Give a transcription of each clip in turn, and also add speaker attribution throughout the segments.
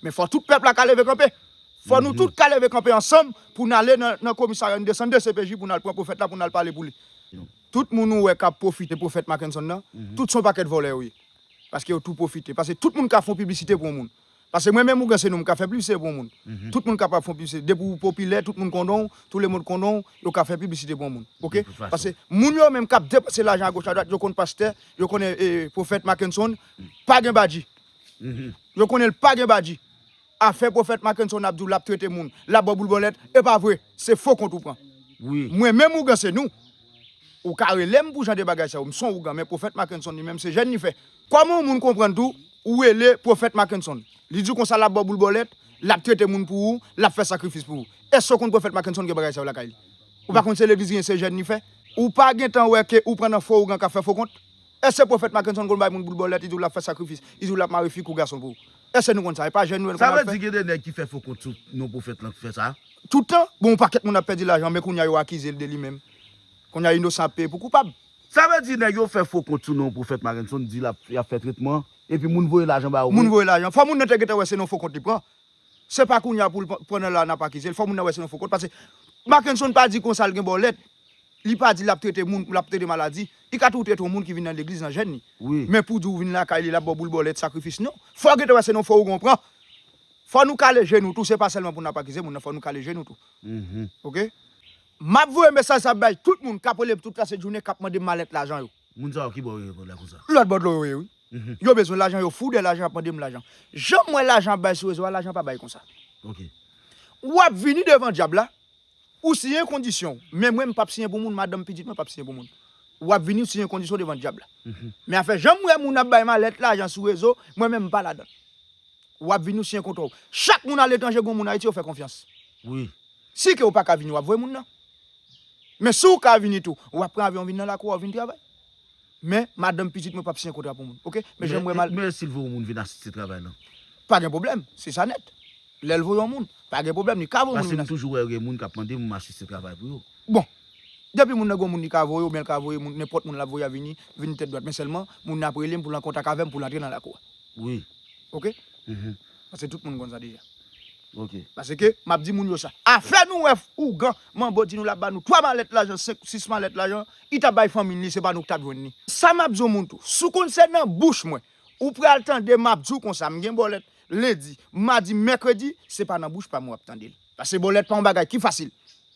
Speaker 1: Men fò tout pèp la ka leve kanpe. Fò nou tout ka leve kanpe ansanm pou n ale nan komisarya, n desann dcpj pou n al pran pwofèt la pou n al pale pou li. Tout moun ou wè k ap pwofite pwofèt Mackenson nan, tout se yon pakèt vòlè yo ye. Paske yo tou pwofite. Paske tout moun ka fè yon piblisite pou yon moun. Paske mwen menm Ougan se nou m ka fè piblisite pou yon moun. Tout moun kapab fè yon piblisite. Depi ou popilè, tout moun konnen w, tou le mond konnen w, yo ka fè piblisite pou yon moun. Ok? Paske moun yo menm k ap depanse lajan agoch adwat, yo konn pastè, yo konnen pwofèt Mackenson pa gen badji. Yo konnen l pa gen badji. Afè profèt Mackenson ap di w lap trete moun, lap ba w boul bòlèt, e pa vre, se fo kont ou pran. Mwen menm ougan
Speaker 2: se nou.
Speaker 1: Ou ka rele m pou jan de bagay sa yo, m son ougan men profèt Mackenson li menm se jèn li fè. Kòman yon moun konprann tou ou rele profèt Mackenson, li di w konsa lap ba w boul bòlèt, lap trete moun pou ou, lap fè sakrifis pou ou. Èske w konn profèt Mackenson gen bagay sa yo lakay li? Ou pa konn se legliz li ye se jèn li fè? Ou pa gentan wè ke ou pran nan fo ougan kap fè fo kont? Eske Pwofèt Mackenson konn bay moun boul bòlèt, li di w l ap fè sakrifis, li di w l ap mare fi kou gason pou ou? Eske nou konn sa? E pa Jè Nwèl konn al fè? Sa vle di gen de nèg ki fè
Speaker 2: fo kont sou non pwofèt lan ki fè sa? Tout tan? Bon yon
Speaker 1: pakèt moun ap pèdi lajan men kounya yo akize l de li menm. Kounya inosan ap peye pou koupab. Sa vle di nèg yo
Speaker 2: fè fo kont sou non Pwofèt Mackenson, di l ap fè tretman, epi moun voye lajan ba yo pou. Moun voye lajan. Fò moun nan te
Speaker 1: gentan wè se non fo kont li pran. Se pa kounya poul pandan la nap akizel fò moun nan wè se yon fo kont paske Makenson pa di konsa l gen bòlèt li pa di lap trete moun lap trete maladi li ka tou trete yon moun ki vin nan legliz nan jèn li men pou di w vin
Speaker 2: lakay
Speaker 1: li lap baw boul bòlèt sakrifis non fò gentan wè se yon fo ougan w pran fò nou kale je nou tou se pa sèlman pou nap akize moun nan fò nou kale je nou tou ok. Map voye mesaj sa bay tout moun kap relem tout la se jounen kap mandem malèt lajan yo. Moun sa yo kibò yo ye kòd
Speaker 2: la konsa. Lòt bò dlo yo ye wi.
Speaker 1: Yo bezwen lajan yo fou de lajan ap mandem lajan. Janm wè lajan ap bay sou rezo a lajan pa bay konsa. Ok.
Speaker 2: Wap
Speaker 1: vini devan dyab la ou siyen kondisyon w men mwen mpap siyen pou moun madanm pitit mwen pap siyen pou moun wap vini ou siyen kondisyon w devan dyab la men afè janm wè moun ap bay malèt lajan sou rezo mwen menm mpa ladann wap vini ou siyen kontra w chak moun aletranje gon moun ayiti yo fè konfyans wi
Speaker 2: si ke ou paka
Speaker 1: vini wap voye moun nan. Men si w ka vini tou, w ap pran avyon vin nan lakou a, w vin travay. Men, madanm, pitit mwen p ap siyen kontra pou moun. Oke? Men janm wè m al. Men si l voye yon moun vin asiste
Speaker 2: travay lan? Pa gen pwoblèm.
Speaker 1: Se sa nèt. Lè l voye yon moun, pa gen pwoblèm. Li ka voye yon moun vin asiste. Paske m toujou wè gen moun k
Speaker 2: ap mande pou m asiste travay pou yo. Bon.
Speaker 1: Depi moun nan gen yon moun li ka voye, oubyen l ka voye moun, nenpòt moun l ap voye a vini, vini tèt dwat. Men sèlman, moun nan ap rele m pou l an kontak avè m pou l antre nan lakou a. Wi. Oke? Pase tout moun konn sa deja. Ok. Pase
Speaker 2: ke map
Speaker 1: di moun yo sa. Afè nou wè ougan manbo di nou lap ba nou 3 malèt lajan 5 ou 6 malèt lajan li tap bay fanmil li se pa nou ki tap jwenn li. Sa map di yon moun tou. Si w konn se nan bouch mwen ou pral tande map di w konsa m gen bòlèt lendi, madi, mèkredi se pa nan bouch pa m wap tande l. Pase bòlèt pa yon bagay ki fasil.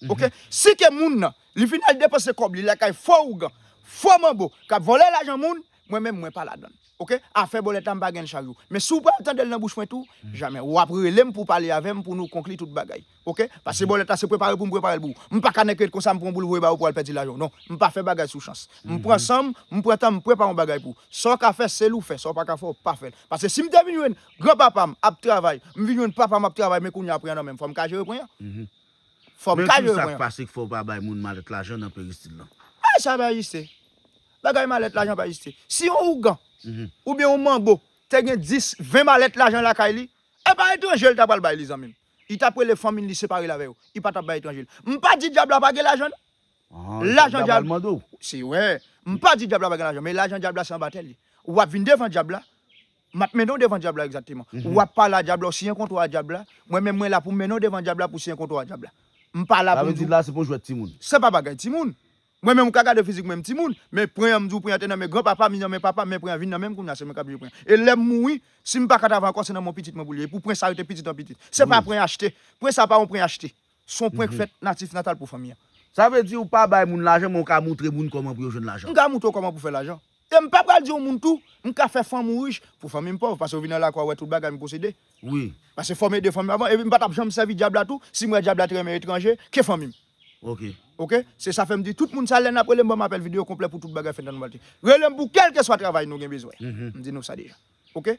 Speaker 1: Ok. Si ke moun nan li fin al depanse kòb li lakay fo ougan, fo manbo kap vòlè lajan moun Mwen menm mwen pa ladann ok afè bòlèt la mpa genl chak jou men si w pral tandel nan bouch mwen tou jamè wap relem pou w pale avèm pou nou konkli tout bagay ok pase bòlèt la se prepare poum preparel pou w mpa ka nèk ret konsa mpran w boul voye ba w pou w al pèdi lajan w non mpa fè bagay sou chans mpran sanm mpran tanm mprepare yon bagay pou w sa w ka fè sel ou fè sa w paka fè w pa fèl pase sim te vin jwenn gran papam ap travay mvin jwenn papam ap travay men kounya pwen an nan menm fòm ka jere pwen an fòm ka jere pwen an. Men kisak pase k fè w pa bay moun
Speaker 2: malèt lajan nan peristil lan? Ay sa bay jiste
Speaker 1: Bagay malèt lajan pa egziste. Si yon ougan, oubyen yon manbo te gen 10, 20 malèt lajan lakay li, e pa etranje li ta pral bay li zanmi m. Li t ap rele fanmi l li separe l avè yo. Li pa t ap bay etranje l. M pa di dyab la pa gen lajan non. Lajan dyab la, se wè, m pa di dyab la pa gen lajan men lajan dyab la se anba tè li. W ap vin devan dyab la, m ap mennen w devan dyab la egzakteman. W ap pale a dyab la, w siyen kontra a dyab la, mwen menm mwen la pou m mennen w devan dyab la pou w siyen kontra a dyab la. M pa la pou m di w. Sa vle di la se pa yon jwèt timoun.
Speaker 2: Se pa bagay timoun.
Speaker 1: Mwen menm ou ka gade fizik mwen m timoun, men pren an m di w pren an te nan men gran papa m li nan men papa m men pren an vin nan men m kounya se mwen kap jere pren an. E lèm mouri si m pa ka travay ankò se nan men w pitit mwen pou l ye e pou pren sa rete pitit an pitit. Se pa pren achte, pren sa pa yon pren achte. S on pren k fèt natif natal pou fanmi an. Sa vle di ou pa
Speaker 2: bay moun lajan men ou ka moutre moun kòman pou yo jwenn lajan. M ka moutre w kòman pou fè
Speaker 1: lajan. E m pa pral di yon moun tou, M ka fè fanm ou rich, pou fanmi m pòv, pase yo vin nan lakwa wè tout bagay m posede. Wi. Pase
Speaker 2: fòme de fanm yo
Speaker 1: avan, epi m pa t ap janm sèvi Dyab la tou, si m wè Dyab la te renmen etranje ke fanmi m. Ok. Ok? Se sa fè m di tout moun sa lè n ap rele m ban m apèl videyo konplè pou tout bagay fèt nan Nouvèlte. Rele m pou kèlkeswa travay nou gen bezwen. M di nou sa deja. Ok?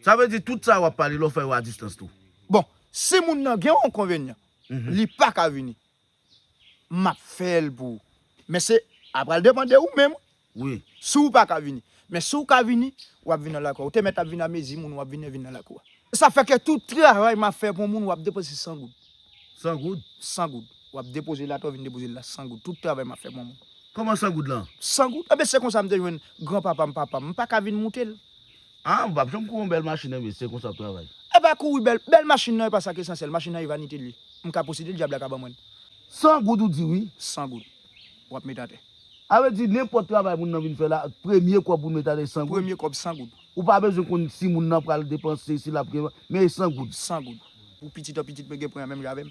Speaker 1: Sa vle di
Speaker 2: tout sa w ap pale la w fè yo a distans tou? Bon, si
Speaker 1: moun nan gen yon enkonvenyan, li pa ka vini. Map fel pou ou. Men se a pral depan de ou menm wi. Si ou
Speaker 2: paka vini.
Speaker 1: Men si ou ka vini, wap vini nan lakou a. Ou te met ap vini a mezi moun wap vini vini nan lakou a. Sa fè ke tout travay map fè pou yon moun wap depoze 100 goud. 100 goud?
Speaker 2: 100 goud. Wap
Speaker 1: depoze l atè ou vini depoze l la 100 goud. Tout travay map fè pou yon moun. Koman 100 goud
Speaker 2: lan? 100 goud. Enben se konsa
Speaker 1: m te jwenn gran papa m papa
Speaker 2: m. M
Speaker 1: paka
Speaker 2: vini moute l.
Speaker 1: Haa
Speaker 2: m pap
Speaker 1: janm
Speaker 2: kouri
Speaker 1: yon bèl
Speaker 2: machin nan
Speaker 1: mesye se
Speaker 2: konsa w ap travay. Epa
Speaker 1: kouri bèl bèl machin nan epa sa ki esansyèl machin nan e vanite li m ka posede l dyab la ka ban mwen l. 100 goud ou
Speaker 2: di wi. 100 goud
Speaker 1: w ap met atè. A vle di nenpòt
Speaker 2: travay moun nan vin fè la premye kòb pou l met atè 100 goud. Premye kòb 100 goud. Ou
Speaker 1: pa bezwen konn si
Speaker 2: moun nan pral depanse si l ap gen men e 100 goud. 100 goud pou
Speaker 1: pitit an pitit mwen gen pran menm jan avè m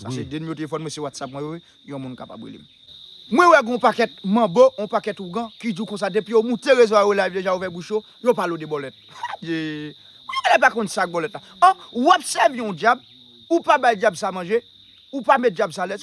Speaker 1: Sa se de nimero telefòn mwen se whatsapp mwen yo wi yon moun kapab relem. Mwen wè gon pakèt manbo on pakèt ougan ki diw konsa depi yo moute rezo a yo live deja yo ouvè bouch yo yo pale w de bòlèt adje Moun yo genlè pa konn sak bòlèt la an wap sèvi yon dyab ou pa bay dyab sa manje ou pa met dyab sa alèz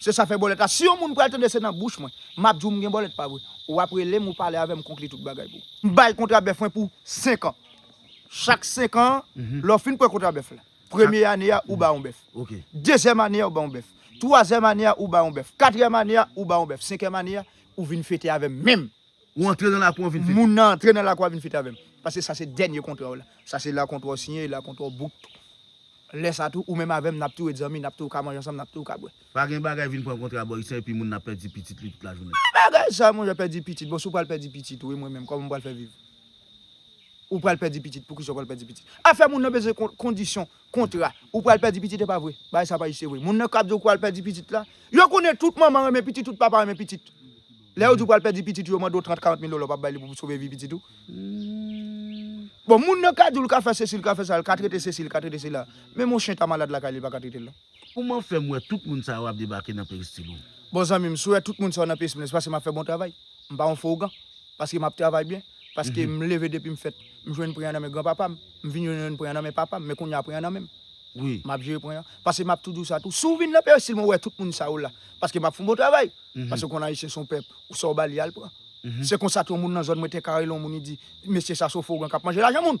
Speaker 1: Se sa fè bòlèt la si yon moun pral tande se nan bouch mwen map diw mgen bòlèt pa vre ou ap relem ou pale avèm konkli tout bagay pou. M bay kontra bèf mwen pou 5 an chak 5 an lè w fin pran kontra bèf la premye ane a ou ba yon bèf dezyèm
Speaker 2: ane a ou ba yon
Speaker 1: bèf twazyèm ane a ou ba yon bèf katriyèm ane a ou ba yon bèf senkyèm ane a ou vin fete avèm menm Ou antre nan lakou
Speaker 2: an vin fete. Moun nan antre nan lakou a vin
Speaker 1: fete avè m. Paske sa se dènye kontra w la. Sa se la kontra w siyen e la kontra w bout tou. Lè sa tou, ou menm avè m, n ap tou ret zanmi, n ap tou ka manje ansanm, n ap tou ka bwè. Pa gen bagay vin pran
Speaker 2: kontra bò isi an epi moun nan ap pèdi pitit li tout lajounen. Ki bagay sa monchè pèdi
Speaker 1: pitit? Bon si w pral pèdi pitit ou e mwen menm, kòman m pral fè viv? Ou pral pèdi pitit, poukisa w pral pèdi pitit? Afè moun nan bezwen kondisyon, kontra. Ou pral pèdi pitit e pa vre. Bagay sa pa jis e vre. Moun nan k ap di w pral pèdi pitit la, yo konnen tout manman renmen pitit, tout papa renmen pitit. Lè yo di w pral pèdi pitit ou yo mande w 30, 40 mil dola w pa bay li pou w sove vi pitit ou. Bon moun nan ka di w l ka fè sesi l ka fè sa, l ka trete sesi l ka trete sela, menm yon chen ta malad lakay li l pa ka trete l non. Kouman fèm wè
Speaker 2: tout moun sa yo ap debake nan peristil ou? Bon zanmi m, si w wè
Speaker 1: tout moun sa yo nan peristil mwen se paske map fè bon travay. M pa yon fo ougan. Paske map travay byen. Paske m leve depi m fèt, m jwenn pren an nan men gran papa m. M vin jwenn pren an nan men papa m, men kounya pren an nan men m. Map jere pren
Speaker 2: an. Paske
Speaker 1: map tou di w sa tou, si w vin nan peristil mwen wè tout moun sa yo la, paske map fon bon travay. Paske ou konn Ayisyen se yon pèp, ou sa ou ba li a li pran. Se konsa tou yon moun nan zòn mwen Tè Karelon, yon moun li di, mesye sa se yon fo ougan k ap manje lajan moun!